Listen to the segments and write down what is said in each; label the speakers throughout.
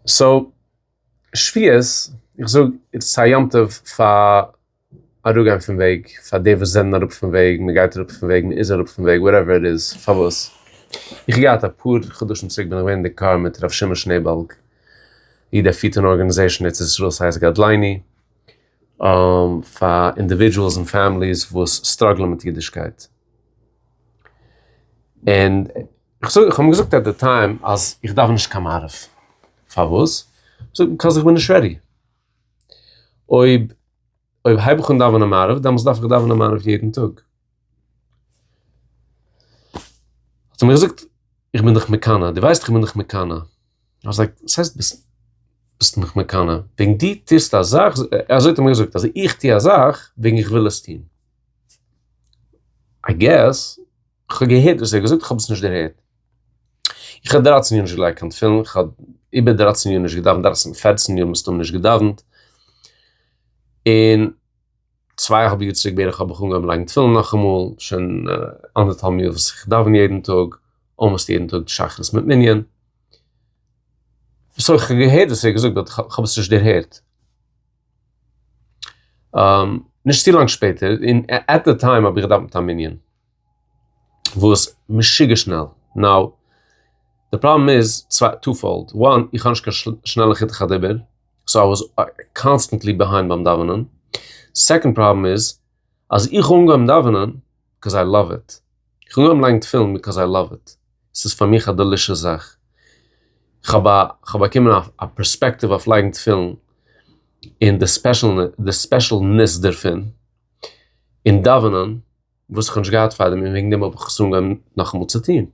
Speaker 1: סאו שפיות, איך זאג איטס א יום טוב פאר אראפגיין פון וועג, פאר די וואס זענען אראפ פון וועג, מען גייט אראפ פון וועג, מען איז אראפ פון וועג, וואטעווער איט איז, פארוואס? איך האב געהאט אפאר חדשים צוריק בין איך געווען אין די קאר מיט ר' שמעון שנעעבאלג, איר דער פירט אן ארגענעזעישן ארץ ישראל ס'הייסט גדליני, פאר אינדיווידזשועלס און פעמיליס וואס סטראגלען מיט אידישקייט. און כ'זאג כ'האב אים געזאגט עט די טיים אז איך דארף נישט קיין מערב, פארוואס? זאגט ער ביקאוז איך בין נישט רעדי, אויב אויב הייב איך אן דאווענען מערב דעמאלטס דארף איך דאווענען מערב יעדן טאג. האט ער מיר געזאגט איך בין דיך מקנא, דו ווייסט איך בין דיך מקנא? איך זאג וואס הייסט ביסט מיך מקנא? וועגן דו טוסט א זאך, אזוי האט ער מיר געזאגט, אז איך טו א זאך וועגן איך וויל עס טון. איי געס, כ'האב געהערט וואס ער האט געזאגט, כ'האב עס נישט דערהערט. איך האב דרייצן יאר נישט געלייגט קיין תפילין, איך האב איבער דרייצן יאר נישט געדאווענט, דרייצן און פערצן יאר מסתמא נישט געדאווענט, און צוויי א האלב יאר צוריק בערך האב איך אנגעהויבן לייגן תפילין נאכאמאל, שוין אנדערטהאלב יאר וואס איך דאווען יעדן טאג, אלמאסט יעדן טאג שחרית מיט מנין. סוי כ'האב געהערט וואס ער האט געזאגט באט כ'האב עס נישט דערהערט. נישט צו לאנג שפעטער, און עט די טיים האב איך געדאווענט מיט א מנין וואס משוגע שנעל, נאו, די פראבלעם איז טו פאלד, וואן, איך האב נישט קיין שנעלע חוט הדיבור, סאו איי וואס קאנסטענטלי ביהיינד ביים דאווענען, סעקאנד פראבלעם איז, אז איך האב אנגעהויבן דאווענען ביקאוז איי לאוו איט, איך האב אנגעהויבן לייגן תפילין ביקאוז איי לאוו איט, עס איז פאר מיך א דעלישעס זאך, כ'האב א כ'האב באקומען א א פערספעקטיוו אויף לייגן תפילין און די ספעשעלנעס די ספעשעלנעס דערפון, און דאווענען וואס כ'האב נישט געהאט פארדעם און וועגן דעם האב איך עס אנגעהויבן נאכאמאל צו טון,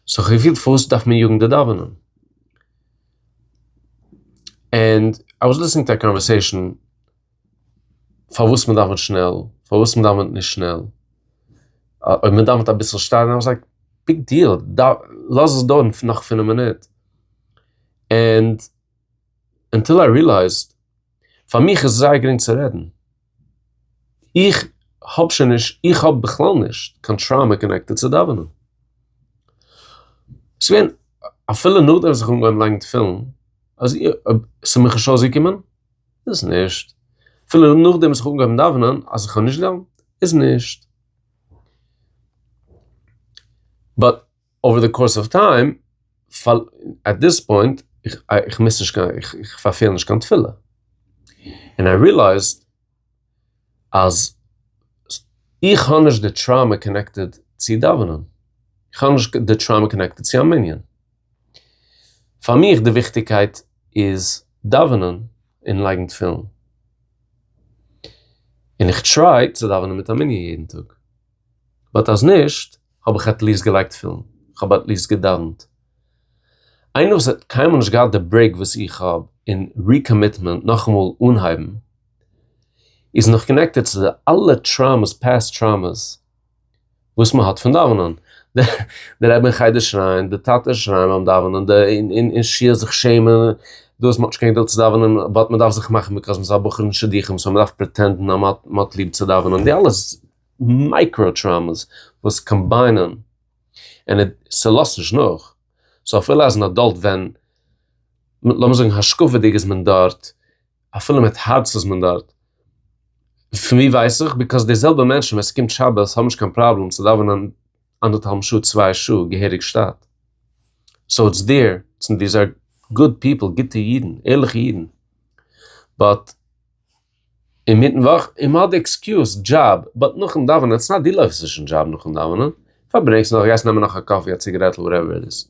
Speaker 1: סאו כ'האב געפילט פארוואס דארף מען יאגן די דאווענען? ענד איי וואס ליסטענינג טו א קאנווערסעישאן. פארוואס מען דאווענט שנעל, פארוואס מען דאווענט נישט שנעל, אויב מען דאווענט אביסל שטייען, איי וואס לייק ביג דיעל, לאז עס דויערן נאך פינף מינוט, ענד אנטיל איי רילייזד, פאר מיך איז עס זייער גרינג צו רעדן, איך האב שוין נישט, איך האב בכלל נישט קיין טראומא קאנעקטעד צו דאווענען, ס'געווען אפילו נאכדעם וואס איך האב אנגעהויבן לייגן תפילין, אז ס'איז מיר נישט אויסגעקומען, איז נישט. אפילו נאכדעם וואס איך האב אנגעהויבן דאווענען אז איך האב נישט געלערנט, איז נישט. באט אווער די קאורס אוו טיים, עט דיס פוינט, איך מוז נישט קיין, איך פארפעל נישט קיין תפילה. און איי רילייזד אז איך האב נישט די טראומא קאנעקטעד צו דאווענען, איך האב נישט די טראומא קאנעקטעד צו א מנין, פאר מיך די וויכטיגקייט איז דאווענען און לייגן תפילין, און איך טריי צו דאווענען מיט א מנין יעדן טאג, באט אז נישט האב איך עטליעסט געלייגט תפילין, כ'האב עטליעסט געדאווענט, איינער וואס האט קיינמאל נישט געהאט די ברעיק וואס איך האב און ריקאמיטמענט נאכאמאל אנהייבן, איז נאך קאנעקטעד צו די אלע טראומעס פעסט טראומעס וואס מען האט פון דאווענען, די רבי אין חדר שרייען, די טאטע שרייען ביים דאווענען, די אין שול זיך שעמען, דאס מען האט נישט קיין געדולד צו דאווענען באט מען דארף זיך מאכן ביזקאויז מען איז א בחור אין שידוכים סאו מען דארף פרעטענדן אז מען האט ליב צו דאווענען, די אלע מייקרא טראומעס וואס קאמביינען און ס'לאזט נישט נאך, סאו אפילו אז אין אדאלט ווען, לאמיר זאגן השקפה'דיג איז מען דארט, אפילו מיט הארץ איז מען דארט. פון ווי ווייס איך? ביקאויס די זעלבע מענטשן ווען ס'קומט שבת האבן נישט קיין פראבלעם צו דאווענען אנדערטהאלבן שעה צוויי שעה געהעריג שטאט. סאו איטס דיר, דיז אר גוד פיפל, גוטע אידן, ערליכע אידן. באט אינמיטן וואך, און מ'האט די עקסקיוז דזשאב, באט נאכן דאווענען, איטס נאט דו לויפסט נישט אין דזשאב נאכן דאווענען, פארברענגסט נאך, גייסט נעמען נאך א קאפי, א ציגערעטל, וואטעווער איט איז.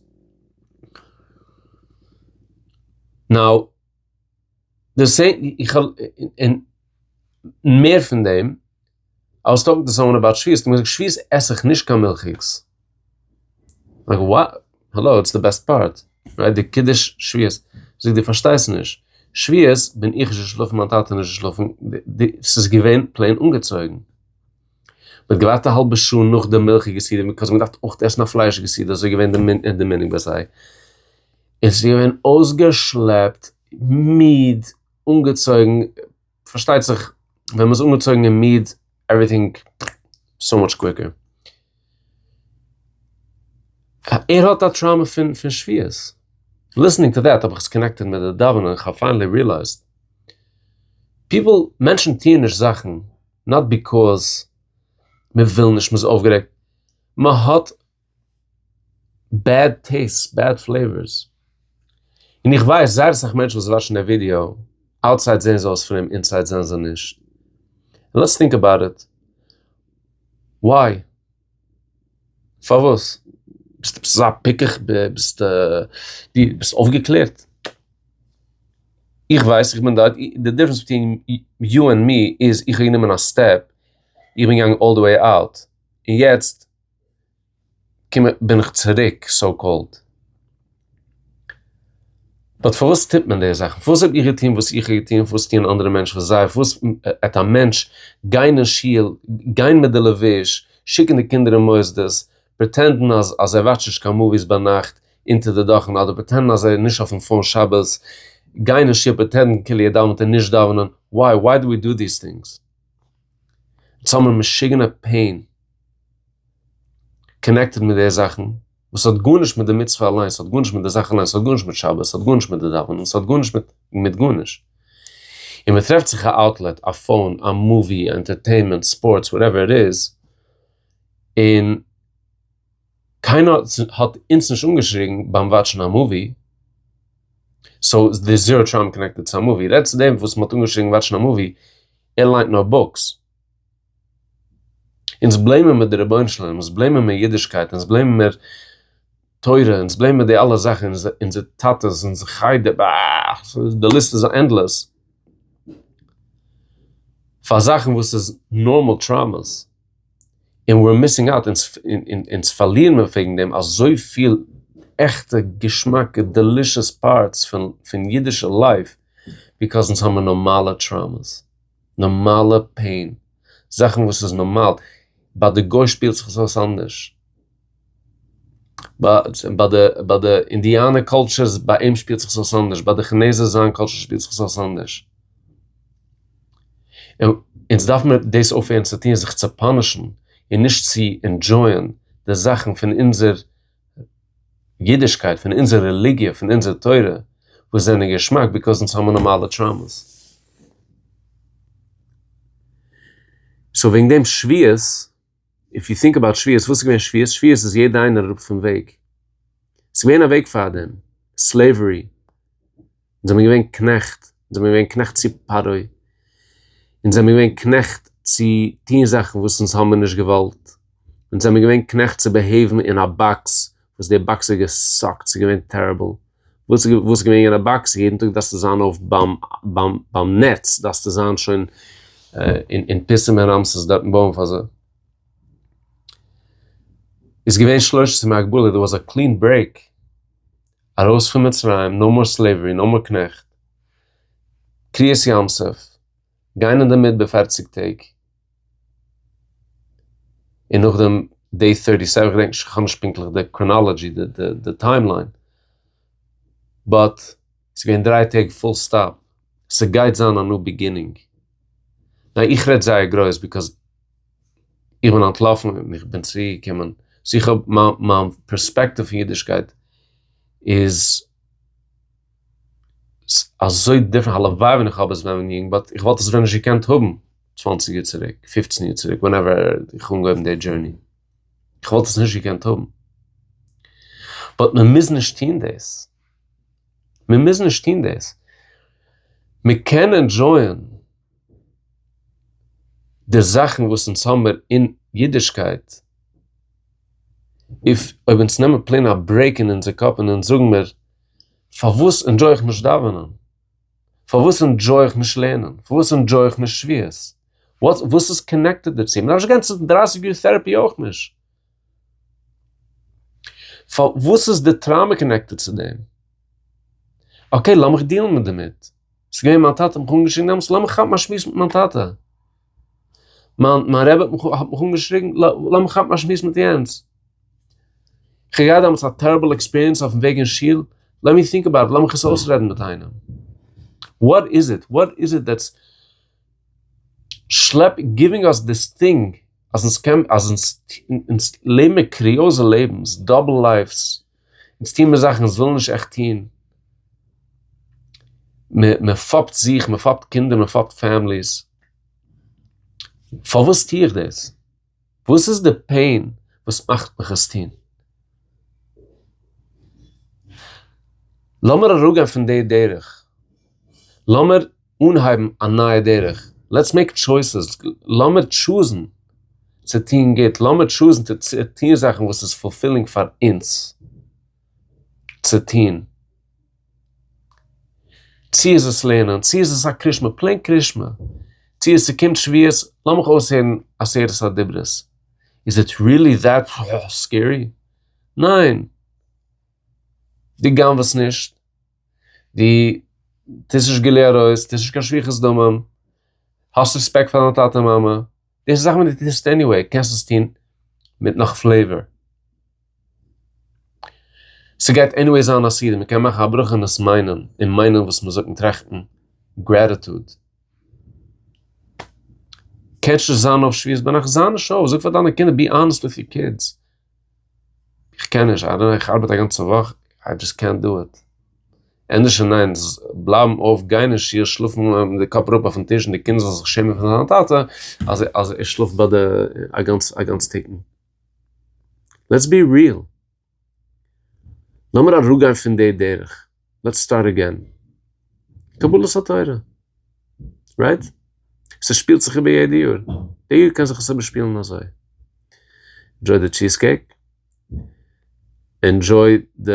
Speaker 1: נאו. די סע איך האב און מער פון דעם איי וואס טאלקינג טו סאמאן אבאוט שביעית האט ער מיר געזאגט שביעית עס איך נישט קיין מילכיגס, לייק וואט? האלא איטס די בעסט פארט רייט די קידוש שביעית, זאגט די פארשטייסט נישט שביעית בין איך נישט געשלאפן מיין טאטע איז נישט געשלאפן ס'איז געווען פלעין אנגעצויגן, מ'האט געווארט א האלבע שעה נאך די מילכיגע סעודה ביז מ'האט געדארפט אויך עסן א פליישיגע סעודה אזוי איז געווען די מנהג ביי זיי. עס איז געווען אויסגעשלעפט, מיד, אנגעצויגן, פארשטייט זיך ווען מען איז אנגעצויגן און מיד עווריטינג סאו מאטש קוויקער. ער האט א טראומא פון פון שביעות. ליסענינג טו דעט האב איך עס קאנעקטעד מיט די דאווענען איך האב פיינעלי ריעלייזד, פיפל, מענטשן טוען נישט זאכן נאט ביקאז מען וויל נישט, מען איז אויפגערעגט, מען האט, בעד טעיסט, בעד פלעיווארס. און איך ווייס זייער אסאך מענטשן וואס וואטשן די ווידיאו, אוטסייד זעהן זיי אויס פרום אינסייד זענען זיי נישט. לעטס טינק אבאוט איט. וויי? פארוואס? ביסטו עפעס אזא פיקח? ביסטו אויפגעקלערט? איך ווייס, איך בין דארט. די דיפרענס ביטווין יו ענד מי איז איך האב גענומען א סטעפ, איך בין געגאנגען אלל די וועי אוט. און יעצט. קום איך בין איך צוריק סאו קאלד. באט פארוואס טוט מען די זאכן? פארוואס זאל איך געטון וואס איך האב געטון? פארוואס טוען אנדערע מענטשן וואס זיי? פארוואס עט א מענטש גיין אין שול, גיין מיט די לבוש, שיקן די קינדער אין מוסדות, פרעטענדן אז אז ער וואטשט נישט קיין מאוויס ביינאכט אונטער די דאכן, אדער פרעטענדן אז ער איז נישט אויפן פאון שבת, גיין אין שול פרעטענדן כאילו ער דאווענט און נישט דאווענען, וואי? וואי דא ווי דא דיס טינגס? אונז האבן א משוגענע פעין קאנעקטעד מיט די זאכן וואס האט גארנישט מיט די מצוה אליינס, ס'האט גארנישט מיט די זאך אליינס, ס'האט גארנישט מיט שבת, ס'האט גארנישט מיט די דאווענען, ס'האט גארנישט מיט גארנישט. און מען טרעפט זיך א אוטלעט, א פאון, א מאווי, ענטערטעינמענט, ספארטס, וואטעווער איט איז, און. קיינער האט אונז נישט אנגעשריגן ביים וואטשן א מאווי, סאו איז דער זערא טראומע קאנעקטעד צו א מאווי? רעד צו דעם וואס מען האט אנגעשריגן וואטשן א מאווי, ער ליינט נאר בוקס. אונז בלעימען מיר די רבונו של עולם, אונז בלעימען מיר אידישקייט, אונז בלעימען מיר תורה, אונז בלעימען מיר די אלע זאכן, אונזער טאטעס, אונזער חדר, ב ה, די ליסט איז ענדלעס, פאר זאכן וואס איז נארמאל טראומעס. און ווער אר מיסינג אוט אונז פארלירן מיר וועגן דעם אזויפיל עכטע געשמאקע דעלישעס פארטס פון אידישע לייף ביזקאז אונז האבן נארמאלע טראומעס, נארמאלע פעין, זאכן וואס איז נארמאל, ביי די גוי שפילט זיך עס אויס אנדערש. ביי די ביי די אינדיאנער קאלטשערס ביי אים שפילט זיך עס אויס אנדערש ביי די כינעזער זיין קאלטשער שפילט זיך עס אויס אנדערש. אונז דארף מיר דאס אויפהערן צו טון זיך צו פאנישן און נישט צו ענדשויען די זאכן פון אונזער אידישקייט פון אונזער רעליגיע פון אונזער תורה וואס זענען געשמאק ביקאוז אונז האבן נארמאלע טראומעס. סאו וועגן דעם שוויעס. איף יו טינק אבאוט שוויעס, וואס איז געווען שוויעס? שוויעס איז יעדע איינער אראפ פון וועג. עס איז געווען א וועג פאר דעם. סלעווערי. אונז זעמיר געווען קנעכט. אונז זעמיר געווען קנעכט צו פרעה. אונז זעמיר געווען קנעכט צו טון זאכן וואס אונז האמיר נישט געוואלט. אונז זעמיר געווען קנעכט צו בעהעיוון אין א באקס וואס די באקס איז געסאקט. ס'איז געווען טעריבל. וואס איז וואס איז געווען יענע באקס? יעדן טאג דארפסטו זיין אויף ביים ביים ביים נעץ, דארפסטו זיין שוין אין אין פיסים און רמסס דארטן בויען פאר זיי. איז געווען שלוש עשרה מהגבלה, דער וואס א קלין ברעיק, ארויס פון מצרים, נאו מאר סלעיווערי, נאו מאר קנעכט, קריעת ים סוף, גיין אין די מדבר פֿערציק טעג. און נאכדעם דעי טירטי סעווען, כ'געדענק נישט, כ'האב נישט פונקטליך די קראנאלעדזשי, די טיים ליין, באט ס'איז געווען דריי טעג פול סטאפ, ס'גייט זיין א ניו ביגינינג, ניין איך רעד זייער גרויס ביקאזע איך בין אנטלאפן און איך בין צוריק געקומען, סאו איך האב מיין פערספעקטיוו פון אידישקייט איז. ס'איז אזוי דיפרענט, הלוואי ווען איך האב עס ווען יונג באט איך וואלט עס ווען נישט געקענט האבן צוואנציג יאר צוריק, פופצן יאר צוריק, ווענעווער איך האב אנגעהויבן די דזשורני, איך וואלט עס נישט געקענט האבן. באט מען מוז נישט טון דאס, מען מוז נישט טון דאס, מען קען ענדשויען די זאכן וואס אונז האמער אין אידישקייט, אויב אונז נעמען פלעין א ברעיק אין אונזער קאפ און אונז זאגן מיר, פארוואס ענדזשוי איך נישט דאווענען? פארוואס ענדזשוי איך נישט לערנען? פארוואס ענדזשוי איך נישט שביעות? וואס איז קאנעקטעד דערצו? מ'דארף נישט גיין צו דרייסיג יאר טעראפי אויך נישט. פארוואס איז די טראומע קאנעקטעד צו דעם? אקעי, לאמיך דיעלן דערמיט. ס'איז געווען מיין טאטע, האט מיך אנגעשריגן דעמאלטס, לאמיך כאפן א שמועס מיט מיין טאטע. מיין מיין רבי האט מיך אנגעשריגן לאמיך כאפן א שמועס מיט יענץ. כ'האב געהאט דעמאלטס א טעריבל עקספיריענס אויפן וועג אין שול, לעמי טינק אבאוט איט, לאמיך עס אויסרעדן מיט איינעם. וואט איז איט? וואט איז איט דעטס שלעפ גיווינג אס דיס טינג אז אונז קען אז אונז לעבן מיר קוריאזע לעבנס, דאבל לייווס, אונז טוהן מיר זאכן אונז ווילן נישט עכט טוהן, מען מען פאפט זיך, מען פאפט קינדער, מען פאפט פעמיליס, פארוואס טוה איך דאס? וואס איז די פעין וואס מאכט מיך עס טוהן? לאמיר אראפגיין פון די דרך, לאמיר. אנהייבן א נייע דרך, לעטס מעיק טשויסעס, לאמיר טשוזן צו טון גוט, לאמיר טשוזן צו טון זאכן וואס איז פולפילינג פאר אונז צו טון, צו איז עס לערנען, צו איז עס א קרישמע, פלעין קרישמע, צו עס ס'קומט שביעות, לאמיך אויסהערן עשרת הדברות, איז איט ריעלי דעט סקערי? ניין! דו גנב'עסט נישט? דו טוסט נישט גילוי עריות, טוסט נישט קיין שפיכות דמים, האסט רעספעקט פאר דיין טאטע און מאמע, דאס איז זאכן וואס דו טוסט עניוועי, קענסט עס טון מיט נאך פלעיווער. ס'גייט עניוועי זיין א סדר, מ'קען מאכן א ברכה אין עס מיינען, און מיינען וואס מ'זאגט און טראכטן גרעטיטוד. קענסט נישט זיין אויף שביעות בנפש, זיי נישט אויף, זאג פאר דיינע קינדער, בי אנעסט וויט יור קידס. איך קען נישט, איי דאנט נאו, איך ארבעט א גאנצע וואך, איי דזשאסט קענט דא איט. ענדערש און ניין, בלייבן אויף, גיין אין שיעור, שלאפן מיט די קאפ אראפ אויפן טיש און די קינדער זאלן זיך שעמען פון זיין טאטע אז ער שלאפט ביי די א גאנץ א גאנץ טיקן. לעטס בי ריעל. לאמיר אראפגיין פון די דרך. לעטס סטארט אגעין, קבלת התורה, רייט? ס'שפילט זיך איבער יעדע יאר, די יאר קען זיך עס איבערשפילן אזוי, ענדזשוי די טשיז קעיק, ענדזשוי די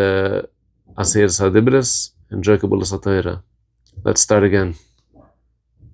Speaker 1: עשרת הדיברות, ענדזשוי קבלת התורה, לעטס סטארט אגעין.